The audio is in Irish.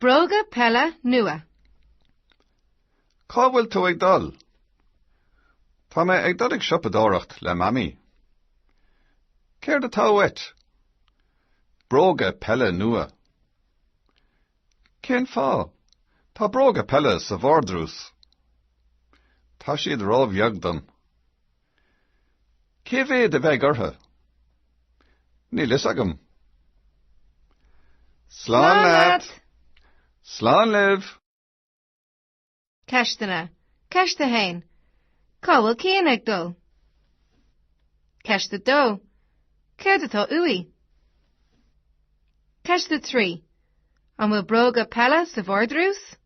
Bróga peile nua. Cá bhfuil tú ag dul? Tá mé ag dul ag siopadóireacht le Mamaí. Céard atá uait? Bróga peile nua. Cén fáth? Tá bróga peile sa vardrús. Tá siad róbheag dom. Cé mhéad a bheidh orthu? Níl fhios agam. Slán leat! Slán libh! Ceisteanna. Ceist 1. Cá bhfuil Cian ag dul? Ceist 2. Céard atá uaidh? Ceist 3. An bhfuil bróga peile sa vardrús?